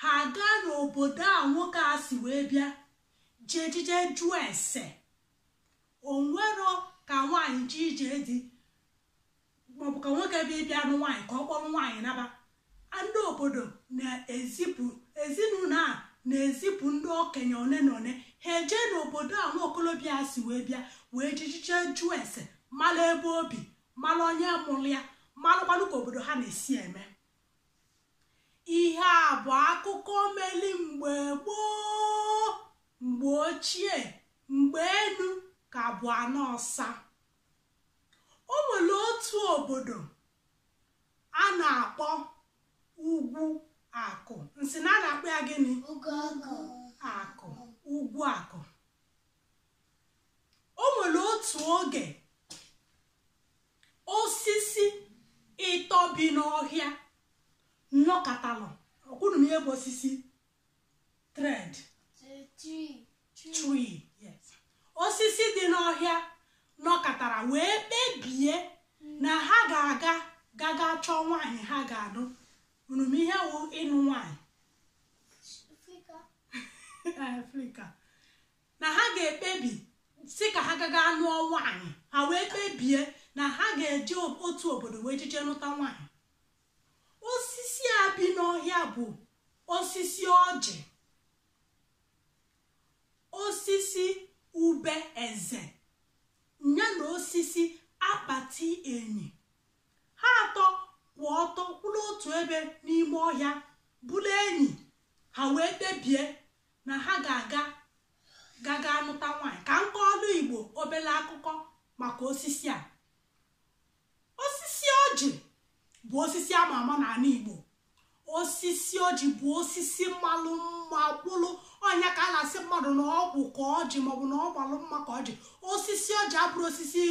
ha agaa n'obodo a nwoke a si wee bịa jejije jụọ ese o nwero ka nwaanyị ji eje di maọbụ ka nwoke bịbịa nụ nwaanyị ka ọ kpọrọ nwaanyị naba ndị obodo na-ezipụ ezinụlọ a na-ezipụ ndị okenye one na one ha eje n'obodo a nwa okolobịa si wee bịa wee jijije jụọ ese mara ebe o bi mara onye mụrụ ya malụkwanụ ka obodo ha na-esi eme ihe a bụ akụkọ meli mgbe gboo mgbe ochie mgbe enu ka bụ ana ọsa o nwere otu obodo a na-akpọ ugwu akụ m sị na a na-akpọ ya gịnị akụ ugwu akụ o nwere otu oge osisi ịtọ bi n'ọhịa nọkatalụ ọ kwa unu ma ihe bụ osisi tree tree yes osisi dị n'ọhịa nọkatara wee kpebie na ha ga-aga gaga chọọ nwaanyị ha ga-anụ unu ma ihe wụ ịnụ nwaanyị Afrịka. na ha ga-ekpebi sị ka ha gaga nụọ nwaanyị ha wee kpebie na ha ga-eje otu obodo wee jije nụta nwaanyị osisi a bi n'ọhịa bụ osisi ọjị osisi ube eze ya na osisi akpati enyi ha atọ kwụ ọtọ kwụrụ otu ebe n'ime ọhịa bụrụ enyi ha wee kpebie na ha ga-aga gaga anụta nwaanyị ka m kọọlụ igbo obere akụkọ maka osisi a osisi ọjị bụ osisi a ma ama n'ala igbo osisi ọjị bụ osisi malụ mma kwụrụ ọ nya ka a na-asị mmadụ na ọ kwụ ka ọjị maọbụ na ọ malụ mma ka ọjị osisi ọjị abụrọ osisi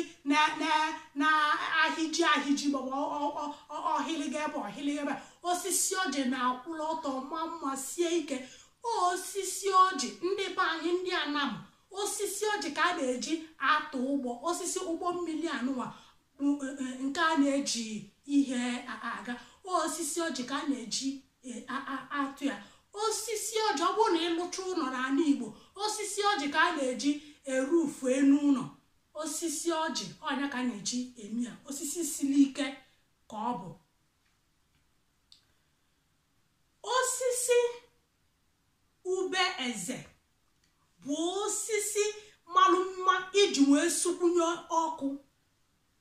na-ahịji ahịji maọbụ ọ hịlịga ebe a ọ hịlịga ebe a osisi ọjị na-akwụrụ ọtọ maa mma sie ike osisi ọjị ndị be anyị ndị anam osisi ọjị ka a na-eji atụ ụgbọ osisi ụgbọ mmiri anụwa nke a na-eji ihe aga osisi ọjị ka a na-eji atụ ya osisi ọjị ọ bụrụ na ị lụcha ụlọ n'ala Igbo osisi ọjị ka a na-eji eroof enu ụlọ osisi ọjị ọ nya ka a na-eji eme ya osisi siri ike ka ọ bụ osisi ube eze bụ osisi malụ mma iji wee sukwunye ọkụ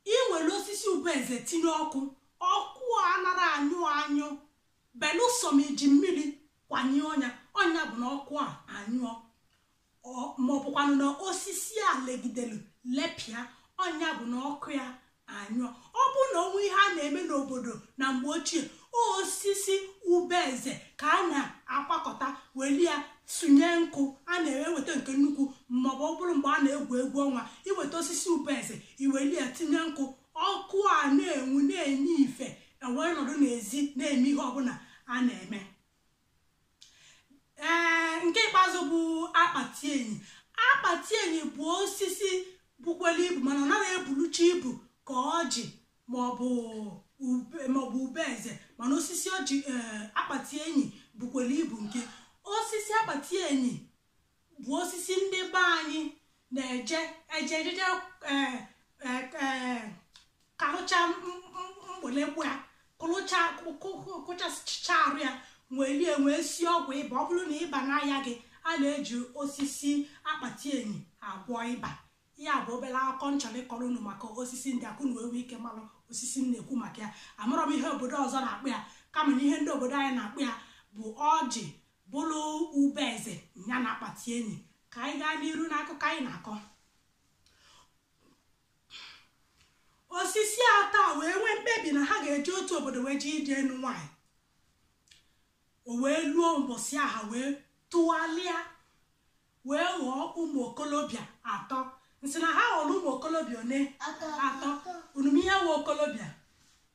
i weli osisi ube eze tinye ọkụ ọkụ a anara anyụ anyụ belụsọ ma i ji mmiri kwanyụọ nya ọ nya bụ na ọkụ a anyụọ maọbụkwanụ na osisi a legidelu lepịa ọ nya bụ na ọkụ ya anyụọ ọ bụ na o nwee ihe a na-eme n'obodo na mgbe ochie osisi ube eze ka a na-akpakọta weli ya sụnye nkụ a na-eweta nke nnukwu maọbụ ọ bụrụ mgbe a na-egwu egwu ọnwa iweta osisi ube eze iweli ya tinye nkụ ọkụ a na-enwu na-enye ife e wee nọdụ n'ezi na-eme ihe ọbụla a na-eme ee nke ikpeazụ bụ akpati enyi akpati enyi bụ osisi bukwere ibu mana ọ naghị ebulucha ibu ka ọjị maọbụ ube eze mana osisi ọjị akpati enyi bukwere ibu nke osisi akpati enyi bụ osisi ndị be anyị na-eje eje ejeje eh, eh, eh, karụcha mgbelegbu ya kụrụcha kụchasịcha arụ ya weli wee sie ọgwụ ịba ọ bụrụ na ịba na-arịa gị a na-eji osisi akpati enyi agwọ ịba ya bụ obere akụkọ m chọrọ ịkọrọ unu maka osisi ndị a ka unu nwee ike malụ osisi m na-ekwu maka ya amarọ m ihe obodo ọzọ na-akpọ ya kama na ihe ndị obodo anyị na-akpọ ya bụ ọjị bụrụ ube eze ya na akpati enyi ka anyị gaa n'iru n'akụkọ anyị na-akọ osisi atọ a wee nwee mkpebi na ha ga-eje otu obodo wee jee ije ịnụ nwaanyị o wee luo mbọsị a ha wee tụgharịa wee ghọọ ụmụ okolobịa atọ m sị na ha ghọrọ ụmụ okolobịa one atọ unu ma ihe wụ okolobịa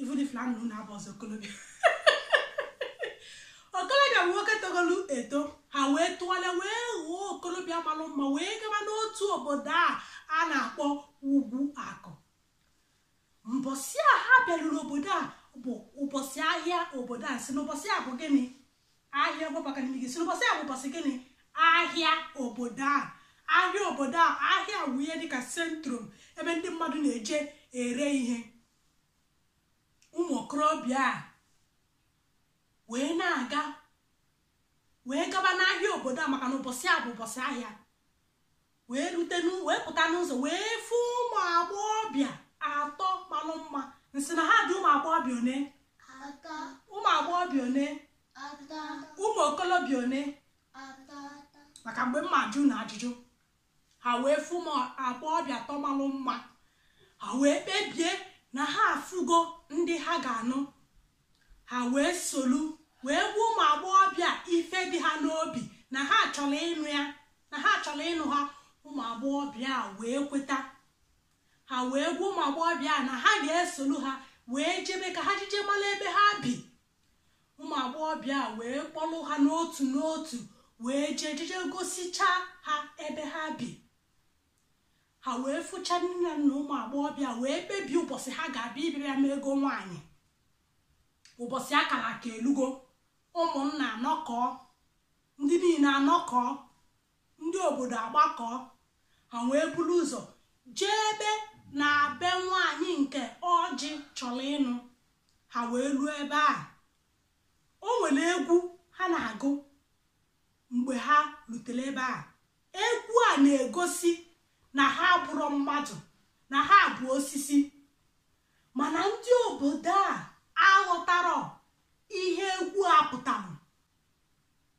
even if na nna na-abụ ọzọ okolobịa okolobịa bụ nwoke togolu eto ha wee tụgharịa wee ghọọ okolobịa malụ mma wee gaba n'otu obodo a na-akpọ ugwu akụ mbọsị a ha bịaruru obodo a bụ ụbọchị ahịa obodo a sị na ụbọchị a bụ gịnị ahịa ọgbabaka n'ime gị sị na ụbọchị a bụ ụbọchị gịnị ahịa obodo a ahịa obodo a ahịa wụ ihe dịka centrum ebe ndị mmadụ na-eje ere ihe ụmụ okorobịa a wee na-aga wee gaba n'ahịa obodo a maka na ụbọchị a bụ ụbọchị ahịa wee rute wee pụta n'ụzọ wee fụ ụmụ agbọghọbịa atọ malụ mma m sị na ha dị ụmụ agbọghọbịa one ụmụ agbọghọbịa one ụmụ okolobịa one maka mgbe m ma ajụ unu ajụjụ ha wee fụ ụmụ agbọghọbịa atọ malụ mma ha wee kpebie na ha afụgo ndị ha ga-anụ ha wee solu wee gwa ụmụ agbọghọbịa ife dị ha n'obi na ha chọrọ ịnụ ya na ha chọrọ ịnụ ha ụmụ agbọghọbịa wee kweta ha wee gwa ụmụ agbọghọbịa na ha ga-esolu ha wee jebe ka ha jije mara ebe ha bi ụmụ agbọghọbịa a wee kpọlụ ha n'otu n'otu wee jee jeje gosichaa ha ebe ha bi ha wee fụcha nne na nna ụmụ agbọghọbịa wee kpebie ụbọchị ha ga-abịa ịbịa mee ego nwaanyị ụbọchị a kara aka elugo ụmụnna anọkọọ ndị niile anọkọọ ndị obodo agbakọọ ha wee buru ụzọ jebe na be nwaanyị nke ọjị chọrọ ịnụ ha wee luo ebe a o nwere egwu ha na-agụ mgbe ha lutelu ebe a egwu a na-egosi na ha abụrọ mmadụ na ha bụ osisi mana ndị obodo a aghọtarọ ihe egwu a pụtara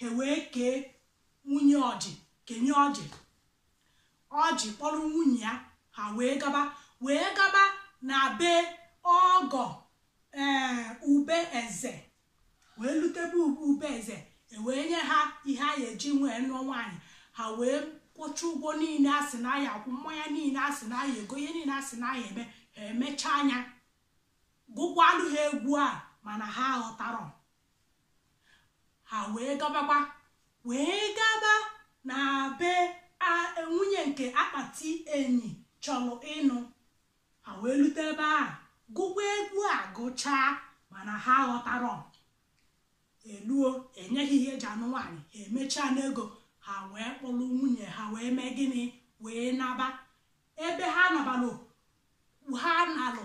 ha wee kee nwunye ọjị kenye ọjị ọjị kpọrọ nwunye ya ha wee gaba wee gaba na be ọgọ ee eh, ube eze wee lute be ube eze e wee nye ha ihe a ga-eji wee nụọ nwaanyị ha wee kwụcha ụgwọ niile a sị na a ya-akwụ mmanya niile a sị na a ya-ego ihe niile a sị na a ya-eme ha emechaanụ ya gụkwalụ ha egwu a mana ha aghọtarọ ha wee gabakwa wee gaba na be nwunye nke akpati enyi chọrọ ịnụ ha wee lute ebe a gụkwa egwu a gụchaa mana ha aghọtarọ e luo e nye ha ihe e ji anụ nwaanyị ha emechaanụ ego ha wee kpọrọ nwunye ha wee mee gịnị wee naba ebe ha nabalụ ha nalụ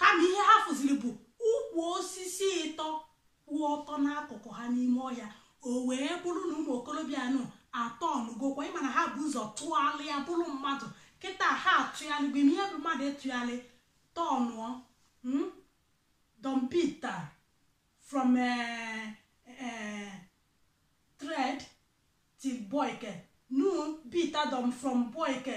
kama ihe ha fụziri bụ ukwu osisi ịtọ kwụ ọtọ n'akụkụ ha n'ime ọhịa o wee bụrụ na ụmụ okorobịa anụ atọnụgokwa ị ma na ha bu ụzọ tụgharịa bụrụ mmadụ kịta ha atụgharị bụ ihe bụ mmadụ ịtụgharị tọnụọ hmm? dompita from eh, eh, thread till boyke nu bita dom from boyke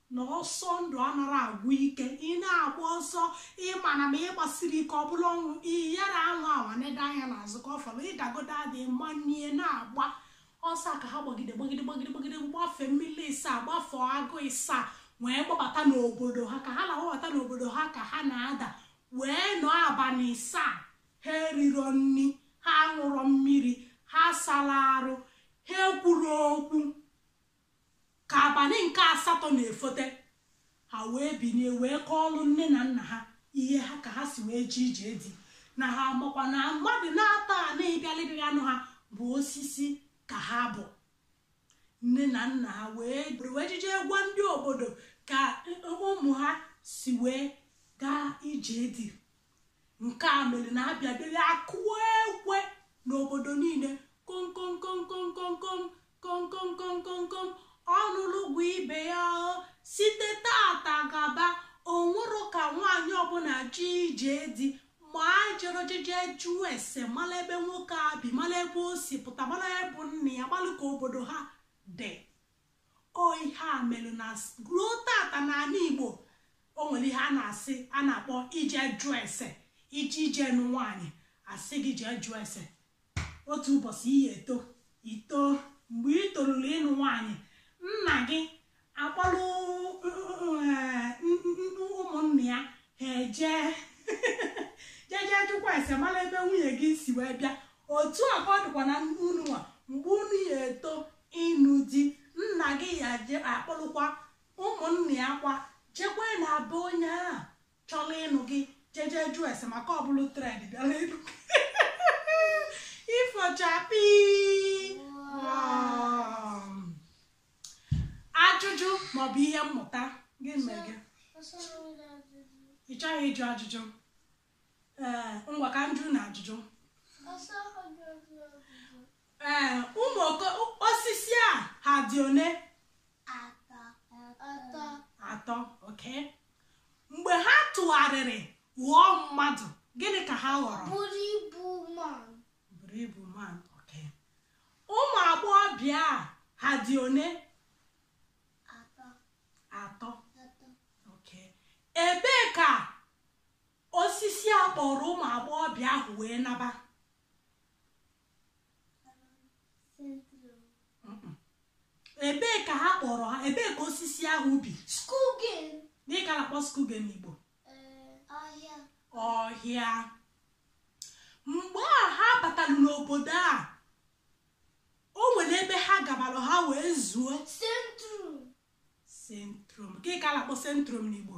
na ọsọ ndụ anarọ agwụ ike ị na-agba ọsọ ị ma na ma ị gbasirọ ike ọ bụlụ ọnwụ ị yara anwụ awa nede anya n'azụ ka ọ fọrọ ị dagodu ada ị manie na-agba ọsọ ka ha gbagide gbagide gbagide gbagide gbafee mmiri ịsaa gbafee agụ ịsaa wee gbabata n'obodo ha ka ha na-agbabata n'obodo ha ka ha na-ada wee nọ abalị ịsaa ha eriro nri ha aṅụrọ mmiri ha asarọ arụ ha ekwuro okwu ka abalị nke asatọ na-efote ha wee binie wee kọọlụ nne na nna ha ihe ha ka ha si wee je ije di na ha makwa na mmadụ naatọ a na-abịalịrị ịnụ ha bụ osisi ka ha bụ nne na nna ha wee jeje gwa ndị obodo ka ụmụ ha si wee gaa ije di nke a mere na a bịa dịrị akụọ ekwe n'obodo niile komkomkomkomkomkom komkomkomkomkom ọ nụlụ gwa ibe ya site tata gaba o nwerọ ka nwaanyị ọbụla je ije di ma e jerọ jeje jụọ ese mara ebe nwoke a bi mara ebe o si pụta mara ebe nne ya mara ka obodo ha dị ọ ihe a melụ na ruo tata n'ala igbo o nwere ihe a na-asị a na-akpọ ije jụọ ese ị je-eje ịnụ nwaanyị a sị gị jee jụọ ese otu ụbọchị ị ya eto i to mgbe ị toruru ịnụ nwaanyị nna gị akpọrọ ụmụnna ya ha eje jeje jụkwa ese mara ebe nwunye gị si wee bịa otu a ka ọ dịkwa na unu nwa mgbe unu ya eto ịnụ di nna gị ya je akpọlụkwa ụmụnna ya kwa jekwa na be onye ahụ chọrọ ịnụ gị jeje jụọ ese maka ọ bụlụ träd bịara ịnụ gị ifo chakpii ajụjụ maọbụ ihe mmụta gịnị mee gị What's wrong with that? ị chọghị ịjụ ajụjụ ee ngwa ka m jụọ unu ajụjụ ee ụmụ oko- osisi a ha dị one atọ okay mgbe ha tụgharịrị ghọọ mmadụ gịnị ka ha ghọrọ buru ibu man okay ụmụ agbọghọbịa a ha dị one atọ okay ebee ka osisi a kpọrọ ụmụ agbọghọbịa ahụ wee naba ebee ka ha kpọrọ ha ebee ka osisi ahụ bi gịnị ka a na-akpọ skogen n'igbo eh, ọhịa mgbe a ha batara n'obodo a o nwere ebe ha gabara ha wee zuo centrum centrum gịnị ka a na-akpọ centrum n'igbo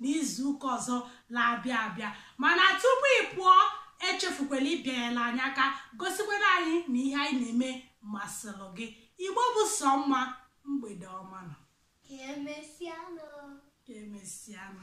n'izu ụka ọzọ na-abịa abịa mana tupu ị pụọ echefukwala ịbịanyela anyị aka gosikwara anyị na ihe anyị na-eme masịrị gị igbo bụ sọ mma mgbede ọma nụ ka emesịa nụ ka emesịa nụ